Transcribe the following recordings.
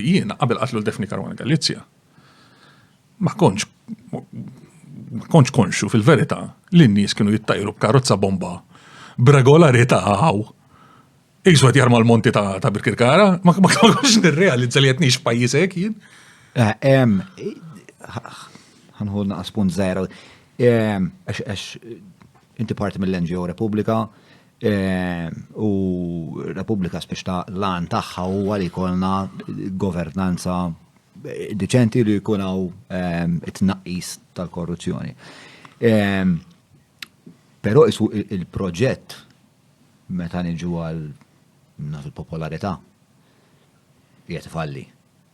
Jiena qabel qatlu l-Defni Karwana Galizja ma konċ ma konċ konxu fil-verità li n-nies kienu jittajru b'karozza bomba b'regolarità għaw Isu għet jarma l-monti ta' Birkirkara, ma konċ nirrealizza li jtnix pajisek jien. Għanħu eh, naqas punt zaħra. Għax, inti parti mill-NGO Repubblika, U Repubblika spiex ta' l-għan tagħha huwa li jkollna governanza deċenti li jkun hawn it-tnaqqis tal-korruzzjoni. Però isu il-proġett meta niġu għal naf il-popolarità qiegħed ifalli.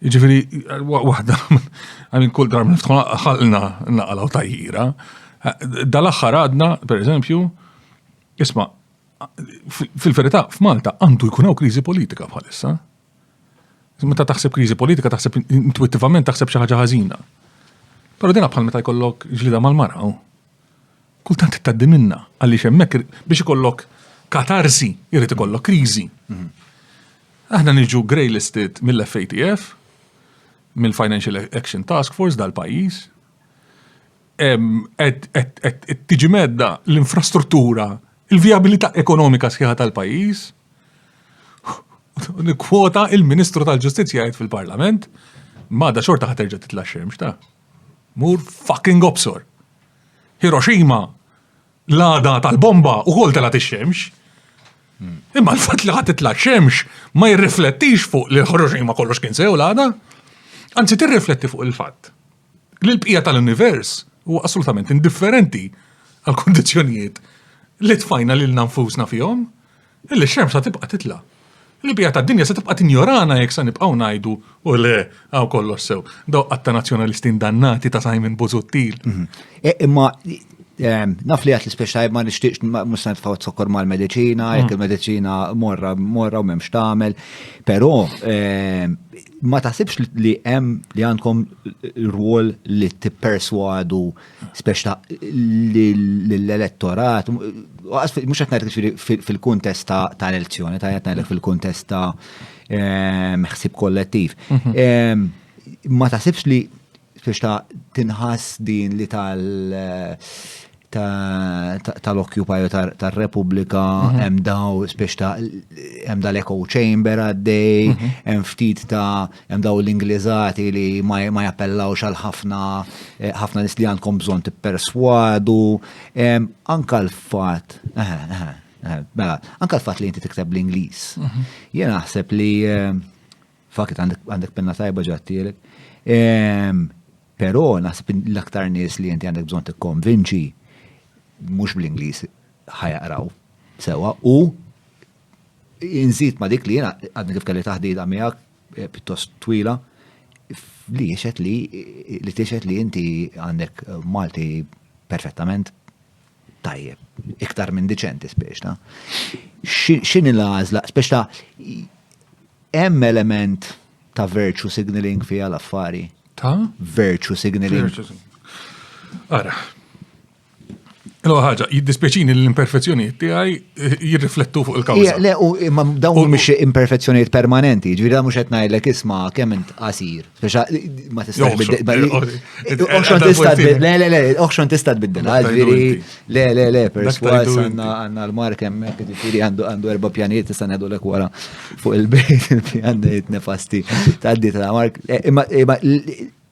Ġifiri, wahda, għamin kull darba niftħu ħalna naqalaw tajjira. Dal-axħar għadna, per eżempju, isma, fil-verità, f'Malta għandu jkun hawn kriżi politika bħalissa. Meta taħseb kriżi politika, taħseb intuitivament taħseb xi ħaġa ħażina. Però dina bħal meta jkollok ġlida mal-mara. Kultant ittaddi minna, għaliex hemmhekk biex ikollok katarsi jrid ikollok kriżi. Aħna niġu grey listed mill-FATF, mill-Financial Action Task Force dal-pajjiż, qed tiġi medda l-infrastruttura, il-vijabilità ekonomika sħiħa tal-pajjiż, kwota il-Ministru tal-Ġustizzja jgħid fil-Parlament, ma da xorta ħaterġa titla' xemx ta' Mur fucking obsor! Hiroshima, l-għada tal-bomba ukoll telgħet ix-xemx. Imma l-fatt li ħadd titla' xemx ma jirriflettix fuq li Hiroshima kollox kien sew l-għada. Anzi tirrifletti fuq il-fatt li l-bqija tal-univers huwa assolutament indifferenti għall-kundizzjonijiet li tfajna lilna nfusna fihom. Illi x-xemx sa tibqa' titla'. Il-bqija tad-dinja se tibqa' tinjorana jekk se nibqgħu ngħidu u le hawn kollox sew. Dawk qatt ta' nazzjonalisti indannati ta' Simon Busuttil. Imma naf li għedt l-ispiex tajjeb ma nixtieqx mhux se nitfgħu zokkor mal-mediċina, jekk il-mediċina morra morra u m'hemmx tagħmel. Però ma taħsibx li hemm li għandkom rwol li tipperswadu speċ ta' l-elettorat, mux għatnajt fil-kontest ta' l-elezzjoni, ta' għatnajt fil-kontest ta' ehm, ħsib kollettiv. Mhm. Ehm, ma ta' sibx li speċ ta' tinħas din li tal tal-Occupy tal-Repubblika mhm. hemm daw speċ ta' hemm dal-echo chamber għaddej, mhm. hemm ftit ta' Hemm dawn l-Ingliżati li ma jappellawx għal ħafna ħafna nies li għandkom bżonn tipperswadu. Anka l-fatt, mela, anka l-fatt li inti tikteb l-Ingliż. Mhm. Jien naħseb li fakit għandek penna tajba ġattielek. Però naħseb l-aktar nies li inti għandek bżonn tikkonvinċi mhux bl-Ingliż ħajaqraw sewa u Inżid ma dik li jena għadni kif kelli taħdida miegħek eh, pjuttost twila li jiexet li li tiexet li inti għandek eh, Malti perfettament tajjeb, iktar minn diċenti speċta. X'in il-għażla, speċta hemm element ta' virtue signaling fija l-affari. Ta' virtue signaling. Ara, Lo ħaġa, jiddispieċini l-imperfezzjonijiet tiegħi eh, jirriflettu fuq il-kawża. Le, u imma dawn mhumiex imperfezzjonijiet permanenti, ġifieri mhux qed ngħidlek isma' kemm int qasir. Speċa ma tistax biddel. Oħxon tista' tbiddel. Le, le, le, oħxon tista' tbiddel. Ġifieri le, le, le, perswas għandna l-mark hemmhekk ġifieri għandu erba' pjanijiet tista' ngħidu lek wara fuq il-bejt il-pjan nefasti tgħaddi ta' mark. Eh, imma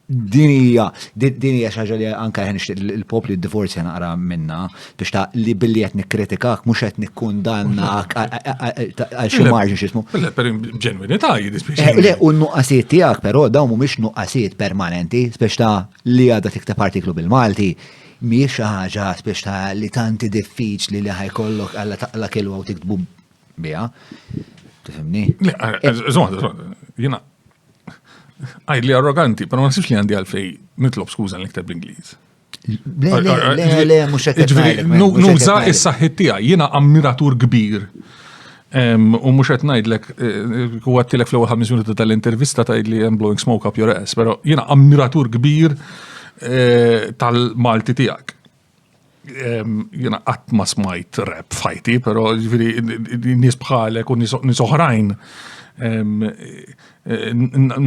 Din hija din hija xi ħaġa li anke ħen il-popli d-divorzja naqra minna biex ta' li billi qed nikkritikak mhux qed nikkundannak għal xi marġin x'ismu. Le per ġenwinità jiddispjaċi. Eh, le u n-nuqqasijiet tiegħek però dawn mhumiex nuqqasijiet permanenti biex ta' li għadha tikteb artiklu bil-Malti mhijiex xi ħaġa biex ta' li tanti diffiċli li ħajkollok għalla taqla kelwa u tiktbu biha. Tifhimni? Le, eh, eh, żgħod, żgħod, jiena Għajdli arroganti, pero ma nasibx li għandi għalfej nitlob skuża li nikteb l-Ingliż. Le, le, le, le, mux għetnajlek. Nuża is-saħħit tijaj, jina ammiratur kbir. U mux għetnajdlek, u għattilek fl-ewel ħamis minuti tal-intervista ta' li I'm blowing smoke up your ass, pero jina ammiratur kbir eh, tal-Malti tijak. jena qatt ma smajt rap fajti, pero ġviri nis bħalek u nis oħrajn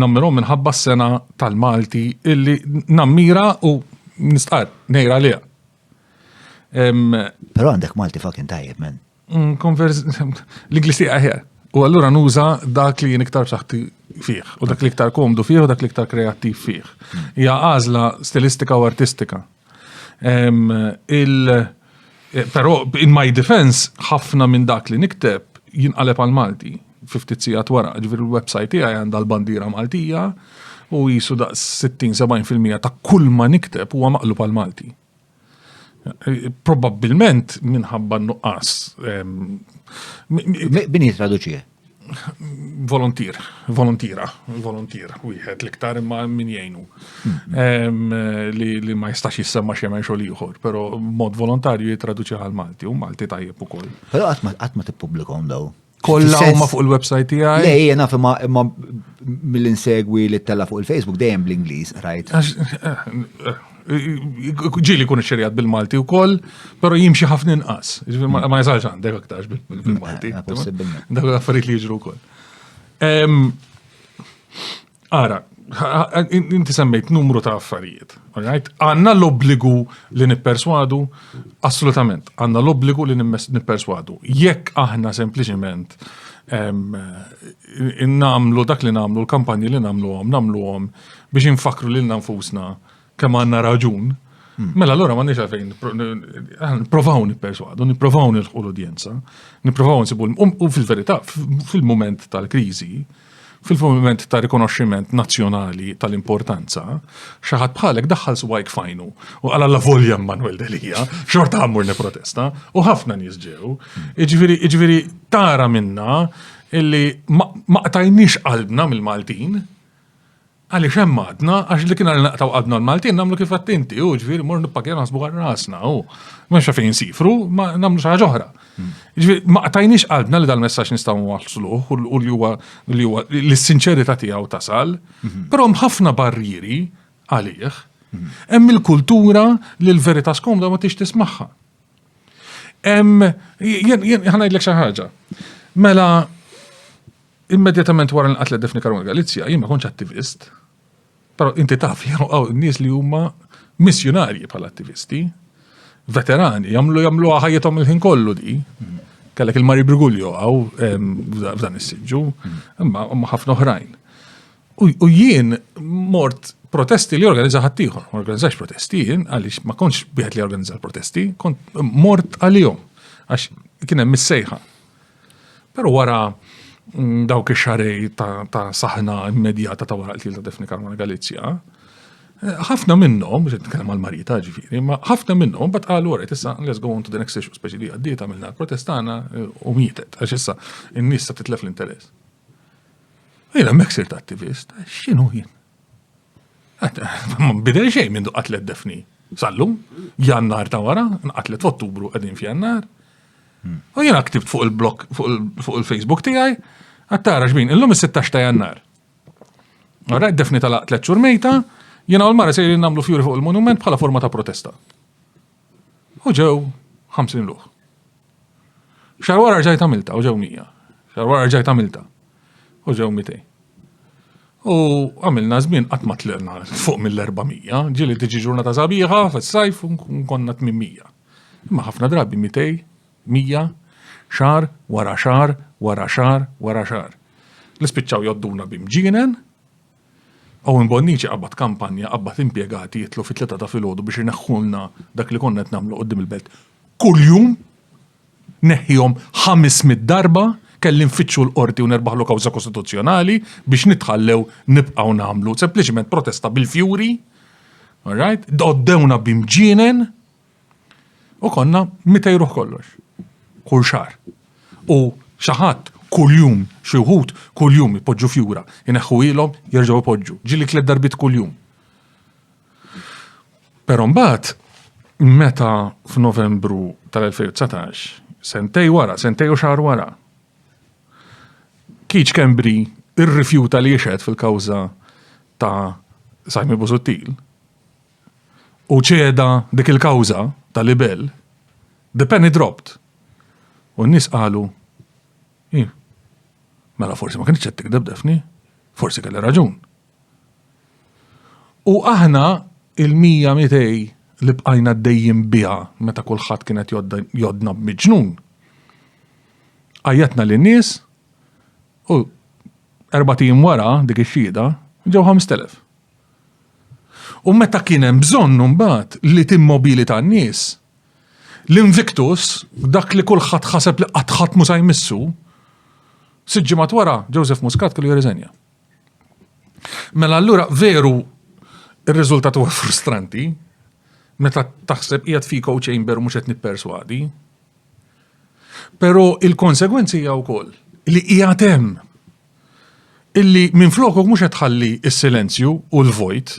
nammirom minħabba s-sena tal-Malti illi nammira u nistqar nejra liqa. Pero għandek Malti fucking tajjeb, men. Mm, L-Inglis tiegħi ħer. U allura nuża dak li jien iktar b'saħħti fih, u dak li iktar komdu fih, u dak li iktar kreattiv fih. Mm. Hija għażla stilistika u artistika. il- eh, Pero, in my defense, ħafna minn dak li nikteb jinqaleb għal Malti, 50 sija twara, ġviri l-websajt tiegħi għandha l-bandira Maltija, u jisu da 60-70% ta' kull ma nikteb huwa maqlub għal Malti. Probabbilment minħabba nuqqas. Min jitraduċi? Volontier, volontira, volontier, wieħed l-iktar imma min jgħinu. Li ma jistax jissemma xemen xogħol ieħor, però mod volontarju jitraduċi għal Malti u Malti tajjeb ukoll. Però qatt ma tippubblikom daw. Kolla huma fuq il-website tiegħi. Le jiena fimma imma mill-insegwi li tella fuq il-Facebook dejjem bl-Ingliż rajt. Ġili kun xerjat bil-Malti u koll, pero jimxi ħafna inqas. Ma jasalx għandek aktarx bil-Malti. Dak affarijiet li jiġru koll. Ara, inti semmejt numru ta' affarijiet. Għanna l-obbligu li nipperswadu? Assolutament, għanna l-obbligu li nipperswadu. Jekk aħna sempliciment namlu dak li namlu, l-kampanji li namlu għom, namlu għom biex infakru li l-nanfusna kemm għandna raġun, hmm. mela allura ma nix għalfejn nipprovaw nipperswadu, nipprovaw nilħu l-udjenza, nipprovaw nsibu u fil-verità fil-mument tal-kriżi, fil-moment ta' rikonoxximent nazzjonali tal-importanza, xaħat bħalek daħħal swajk fajnu u għala la volja Manuel Delija, xorta għammur ne protesta, u ħafna nizġew, iġviri, iġviri, tara minna illi ma qtajnix qalbna mill-Maltin, Għaliex hemm għadna, għax li kien għal naqtaw għadna l-Maltin nagħmlu kif għadt inti, u ġifieri mor nippakja naħsbu għal rasna, u mhux fejn sifru, ma nagħmlu xi ħaġa oħra. Hmm. Ġifieri ma qtajniex qalbna li dal-messaġġ nistgħu nwaħsluh u li huwa li huwa li s-sinċerità tiegħu tasal, hmm. però hemm ħafna barrieri għalih. Hmm. Hemm il-kultura li l-verità skomda ma tix tismagħha. Hemm jien ħanajdlek xi ħaġa. Mela Immedjatament wara nqatlet Daphne Caruana Galizia, jien ma kontx attivist, però inti taf li hawn nies li huma missjunarji bħala attivisti, veterani, jagħmlu jagħmluha ħajjithom il-ħin kollu di. Kellek il-Mari Brigulio għaw f'dan is-siġġu, imma ħafna oħrajn. U jien mort protesti li organizza ħaddieħor, ma organizzax protesti jien għaliex ma kontx wieħed li organizza l-protesti, kont mort għalihom għax kien hemm mis-sejħa Però wara mm, dawk ix-xarej ta' saħna immedjata ta' wara qtil ta' Defni Karmona Galizja, eh, ħafna minnhom, biex nitkellem għal marita ġifieri, ma ħafna minnhom bat qalu wara issa let's go on to the next issue, speċi li għaddiet għamilna l-protestana eh, u mietet, għax issa n-nies sa titlef l-interess. Jena meksir ta' attivist, xinu jien? Bidel xejn minn qatlet defni. Sallu, jannar ta' wara, nqatlet f'Ottubru qegħdin f'jannar. Hmm. U jiena ktibt fuq il-blog fuq il-Facebook tiegħi, għattara xbin, illum is-16 ta' jannar. Għara, defni tal-qatlet xurmejta, jiena u l-mara se nagħmlu fjuri fuq il-monument bħala forma ta' protesta. U ġew 50 ruħ. Xar wara rġajt għamilta u ġew 100. Xar wara rġajt għamilta u ġew 200. U għamilna żmien qatt ma tlirna fuq mill-400, ġieli tiġi ġurnata sabiħa fis-sajf konna 800. Imma ħafna drabi 200, 100, xar wara xar wara xar wara xar. Li spiċċaw jodduna bimġienen Owen Bonnici qabbad kampanja, qabbad impjegati jitlu fit-tlieta ta' filgħodu biex ineħħulna dak li konna qed nagħmlu quddiem il-belt. Kuljum neħħihom ħames mitt darba kelli nfittxu l-Qorti u nerbaħlu kawża kostituzzjonali biex nitħallew nibqgħu nagħmlu sempliċement protesta bil-fjuri, all right, għoddewna b'imġienen. U konna 200 ruħ kollox. Kull xahar. U xi ħadd kuljum, xi wħud kuljum ipoġġu fjura, ineħħu ilhom, jerġgħu ipoġġu. Ġieli tliet darbit kuljum. Però mbagħad meta f'Novembru tal-2019, sentej wara, sentej u xahar wara, Kiċ Kembri irrifjuta li jixed fil-kawża ta' Simon Busuttil, u ċeda dik il-kawża ta' libell, the penny dropped. U n-nies qalu, Hi, mela forsi ma kienx qed tikdeb Daphne, forsi kelli raġun. U aħna il-mija mitej li bqajna dejjem biha meta kulħadd kienet jodna b'miġnun. Għajjatna lin nies u erba' tim wara dik ix-xhieda ġew 5000. U meta kien hemm bżonn imbagħad li timmobilita n-nies, l-Invictus, dak li kulħadd ħaseb li qatt ħadd mhu se jmissu, sitt ġimgħat wara Joseph Muscat kellu jirriżenja. Mela allura veru ir-riżultat huwa frustranti meta taħseb qiegħed fiko chamber mhux qed nipperswadi. Però il-konsegwenzi hija wkoll li qiegħed hemm illi minflokok mhux qed tħalli s-silenzju u l-vojt,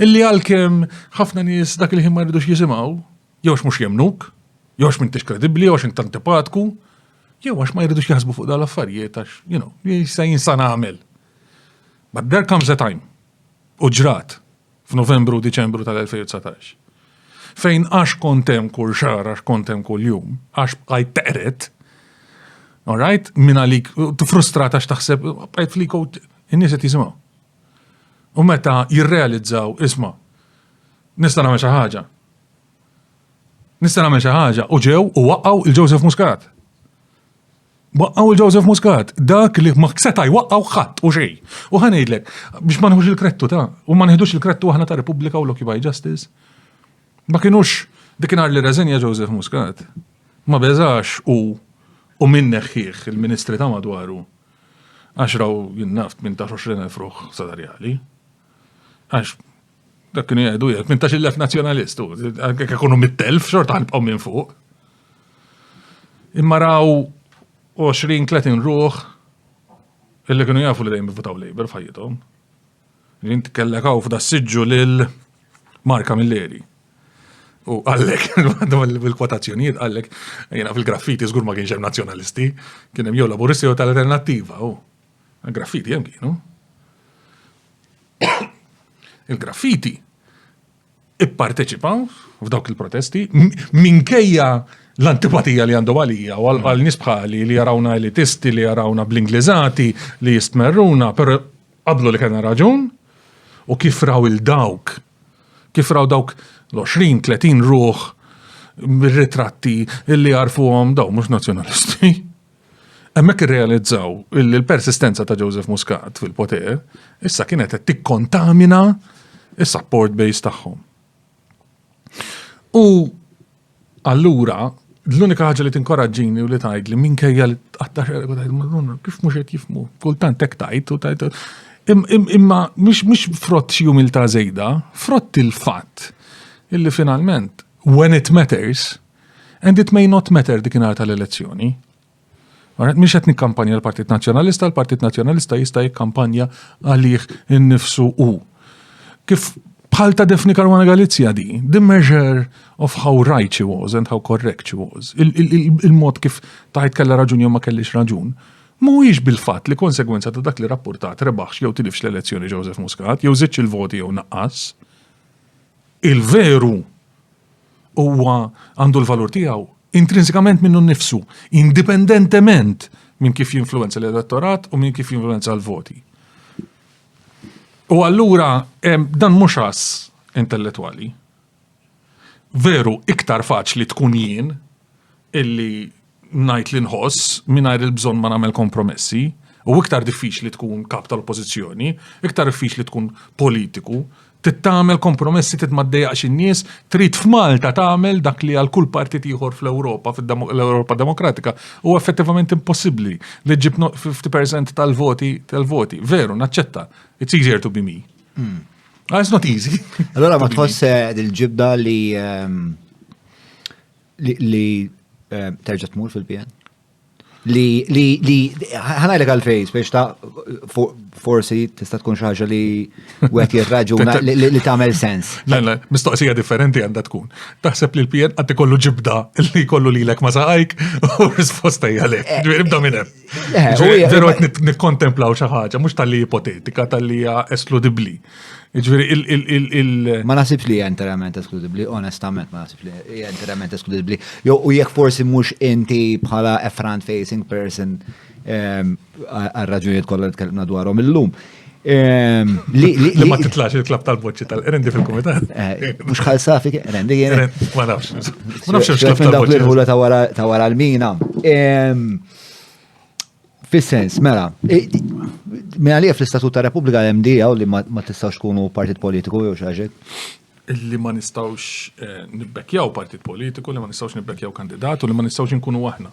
illi għalkemm ħafna nies dak il-ħin ma jridux jisimgħu, jew mhux jemnuk, jew għax m'intix kredibbli, jew għax int antipatku, jew għax ma jridux jaħsbu fuq dal-affarijiet għax, you know, jista' jinsan għamel. But there comes a time. U ġrat. f'Novembru u Diċembru tal-2019. Fejn għax kont hemm kull xahar, għax kont hemm kull jum, għax bqajt teqret, all right, minn għalik, frustrat għax taħseb, bqajt fliko, in-nies qed jisimgħu. U meta jirrealizzaw, isma, nista' nagħmel xi ħaġa. Nista' nagħmel xi ħaġa u ġew u waqgħu il-Joseph Muscat. Waqqgħu l Joseph Muscat, dak li ma seta' jwaqqgħu ħadd u xejn. U ħa ngħidlek, biex ma nħux il-krettu ta' u ma neħdux il-krettu aħna ta' Repubblika u l-Occupy Justice. Ma kinux dikinhar li reżenja Joseph Muscat. Ma beżax u u min neħħieħ il-ministri ta' madwaru. Għax raw jinnaft minn ta' 20,000 ruħ sadarjali. Għax Dak kienu jgħidu jgħid, minn tax il-lef nazjonalist, għek ikunu mit-telf, xorta għanbqaw minn fuq. Imma raw 20-30 ruħ illi kienu jafu li dejjem votaw Labour f'ħajjithom. Jint kellekaw f'da siġġu lil Marka Milleri. U għallek, bil-kwotazzjonijiet għallek, jena fil-graffiti zgur ma kienx hemm nazzjonalisti, kien hemm jew laburisti jew tal-alternattiva. Graffiti hemm kienu. Il-graffiti ipparteċipaw f'dawk il-protesti minkejja l-antipatija li għandu għalija u għal nisbħali li jarawna elitisti li jarawna bl-Ingliżati li jistmerruna, per qablu li kena raġun u kif raw il-dawk, kif raw dawk l-20-30 ruħ ritratti illi għarfuhom daw mhux nazzjonalisti. Hemmhekk irrealizzaw li l-persistenza ta' Joseph Muscat fil-poter issa kienet qed tikkontamina is-support base tagħhom. U allura l-unika ħaġa li tinkoraġġini u li tgħid li minkejja li tqatta' xerek u tgħid madonna kif mhux qed jifmu, kultant hekk tajt u tajt. Imma mhux frott xi umilta' żejda, frott il-fatt illi finalment when it matters And it may not matter dik inhar tal-elezzjoni. Għanet, miex qed nikkampanja l-Partit Nazzjonalista, l-Partit Nazzjonalista jista' jikkampanja għalih innifsu u. Kif bħal ta' Defni Karwana Galizja di, the measure of how right she was and how correct she was, il-mod kif taħt kella raġun jew ma kellix raġun, mhuwiex bil-fatt li konsegwenza ta' dak li rapportat rebaħx jew tilifx l-elezzjoni Joseph Muscat, jew żidx il-voti jew naqqas. Il-veru Huwa għandu l-valur tiegħu intrinsikament minnu nnifsu, indipendentement minn kif jinfluenza l-elettorat u minn kif jinfluenza l-voti. U allura dan mhux għas intellettwali. Veru iktar faċli tkun jien illi ngħid li nħoss mingħajr il-bżonn ma nagħmel kompromessi, u iktar diffiċli tkun kap tal-oppożizzjoni, iktar diffiċli tkun politiku, tittamel kompromessi tit ma ddejjaqx in-nies, trid f'Malta tagħmel dak li għal kull partit ieħor fl-Ewropa, fl-Ewropa Demokratika, u effettivament impossibbli li ġib 50% tal-voti tal-voti. Veru, naċċetta. It's easier to be me. Hmm. Ah, it's not easy. Allora ma tħoss eh, il-ġibda li ehm, Li eh, terġa' tmur fil-PN? Li li li ħanajlek għal fejs biex ta' forsi tista' tkun xi ħaġa li wieħed jirraġuna li tagħmel sens. Le, le, mistoqsija differenti għandha tkun. Taħseb li l-PN qatt ikollu ġibda li kollu lilek ma saqajk u risposta hija le. Eh, Ġifieri bda minn hemm. Veru għet nikkontemplaw xaħġa, mux tal-li ipotetika, tal-li eskludibli. Ġviri, il- Ma nasib li interament eskludibli, onestament ma nasib li interament eskludibli. Jo, u jek forsi mux inti bħala a front-facing person għal-raġunijiet kollha li tkellimna dwarhom illum. Ehm, li ma titlax il-klab tal-boċċi tal-rendi fil-komitat. Eh, mux xalsafi, rendi jena. Ma nafx. Ma nafx il-klab tal-boċċi. il-ħula ta' wara l-mina. Ehm, fis-sens, mela, minna li fl-istatut ta' Repubblika l-MDA u li ma tistawx kunu partit politiku jew xaġek. li ma nistgħux nibbekkjaw partit politiku, li ma nistgħux nibbekkjaw kandidat u li ma nistgħux inkunu aħna.